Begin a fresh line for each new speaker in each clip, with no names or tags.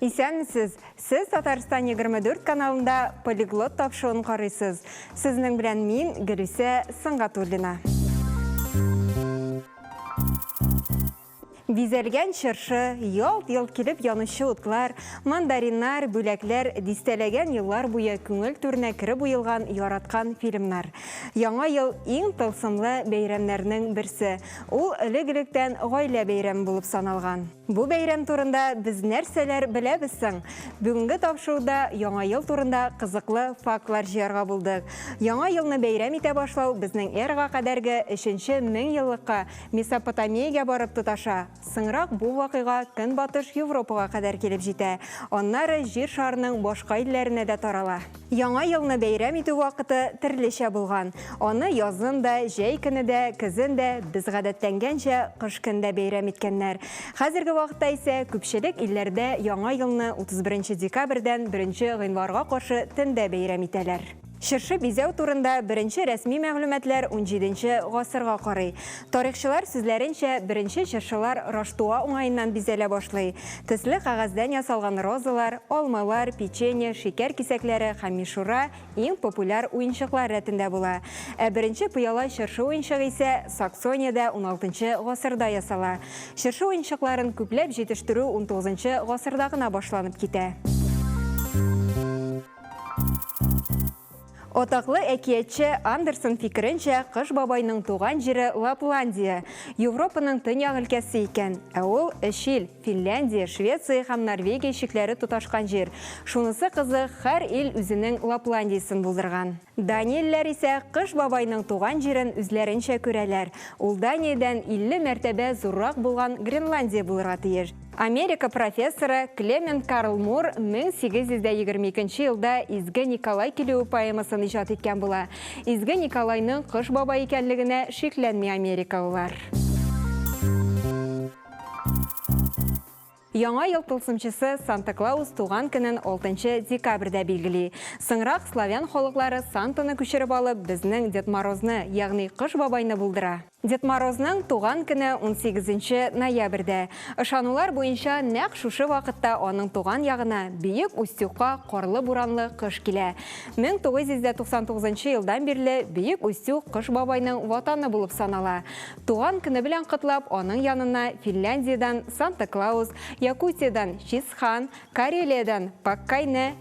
Исәнмесез! Сез Татарстан 24 каналында полиглот тапшыуын карыйсыз. Сезнең белән мин Гөлүсә Сыңгатуллина. Бизәлгән чыршы, ялт-йолт килеп янучы утлар, мандариннар, бүләкләр, дистәләгән еллар буе күңел түренә кереп уелган яраткан фильмнар. Яңа ел, иң тылсымлы бәйрәмнәрнең берсе. Ул элек-электән гаилә бәйрәме булып саналган. Бу бәйрәм турында без нәрсәләр беләбез соң? Бүгенге тапшыруда Яңа ел турында кызыклы фактлар җыярга булдык. Яңа елны бәйрәм итә башлау безнең эрага кадәрге өченче меңьеллыкка Месопотамиягә барып тоташа. Соңрак бу вакыйга Көнбатыш Европага кадәр килеп җитә, аннары Җир шарының башка илләренә дә тарала. Яңа елны бәйрәм итү вакыты терлечә булган. Аны язын да, җәй көне дә, көзен дә, без гадәтләнгәнчә, кыш көн дә бәйрәм иткәннәр. Хәзерге вакытта исә күпчелек илләрдә Яңа елны 31 нче декабрьдән 1 нче гыйнварга каршы төндә бәйрәм итәләр. Чыршы бизәү турында беренче рәсми мәгълүматлар унҗиденче гасырга карый. Тарихчылар сүзләренчә, беренче чыршылар Раштуа уңаеннан бизәлә башлый. Төсле кәгазьдән ясалган розалар, алмалар, печенье, шикәр кисәкләре һәм мишура иң популяр уенчыклар рәтендә була. Ә беренче пыяла чыршы уенчыгы исә Саксониядә уналтынчы гасырда ясала. Чыршы уенчыкларын күпләп җитештерү унтугызынчы гасырда гына башланып китә. Атаклы әкиятче Андерсон фикеренчә, Кыш бабайның туган җире Лапландия, Европаның төньяк өлкәсе икән, ә ул өч ил, Финляндия, Швеция һәм Норвегия чикләре тоташкан җир. Шунысы кызык, һәр ил үзенең Лапландиясен булдырган. Даниялеләр исә Кыш бабайның туган җирен үзләренчә күрәләр, ул Даниядән 50 мәртәбә зуррак булган Гренландия булырга тиеш. Америка профессоры Клемент Карл Мур 1822 елда Изге Николай килүе поэмасын иҗат иткән була. Изге Николайның кыш бабай икәнлегенә шикләнми америкалылар. Яңа ел тылсымчысы Санта-Клаус туган көнен 6 декабрьдә билгели. Соңрак славян халыклары Сантаны күчереп алып, безнең Дед Морозны, ягъни Кыш бабайны булдыра. Дед Морозның туган көне унсигезенче ноябрьдә. Ышанулар буенча, нәкъ шушы вакытта аның туган ягына, Бөек Устюгка карлы-буранлы кыш килә. 1999 нчы елдан бирле Бөек Устюг Кыш бабайның ватаны булып санала. Туган көне белән котлап, аның янына Финляндиядән Санта-Клаус, Якутиядән Чисхан, Карелиядән Паккайне,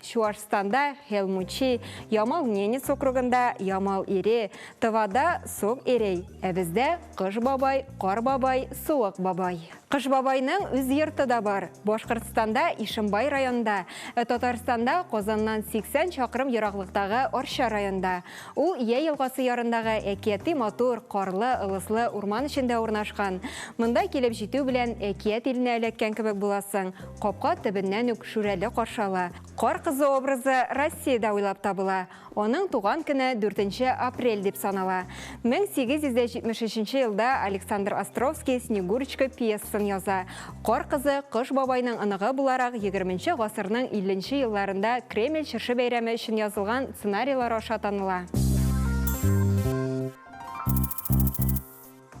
Чуашстанда, Хелмучи, Ямал Ненец округында, Ямал Ире, Тывада, Сок Эрей, ә бездә Кыш бабай, Кар бабай, Суык бабай. Кыш бабайның үз йорты да бар. Башкортстанда, Ишембай районында, ә Татарстанда, Казаннан 80 чакрым ераклыктагы Арча районында. Ул Ия елгасы ярындагы әкияти матур, карлы, ылыслы урман эчендә урнашкан. Монда килеп җитү белән, әкият иленә эләккән кебек буласың. Капка төбеннән үк Шүрәле каршы ала. Кар кызы образы Россиядә уйлап табыла. Аның туган көне 4 нче апрель дип санала. 1873 елда Александр Островский Снегурочка пьесасын яза. Кар кызы Кыш бабайның оныгы буларак егерменче гасырның илленче елларында Кремль чыршы бәйрәме өчен язылган сценарийлар аша таныла.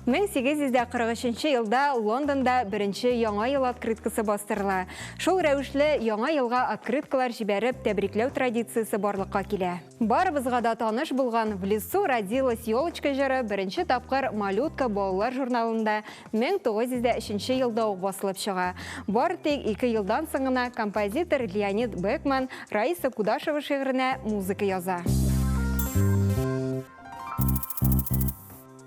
1843 елда Лондонда беренче Яңа ел открыткасы бастырыла. Шул рәвешле Яңа елга открыткалар җибәреп тәбрикләү традициясе барлыкка килә. Барыбызга да таныш булган В лесу родилась елочка җыры беренче тапкыр Малютка балалар журналында 1903 елда ук басылып чыга. Бары тик ике елдан соң гына композитор Леонид Бекман Раиса Кудашева шигыренә музыка яза.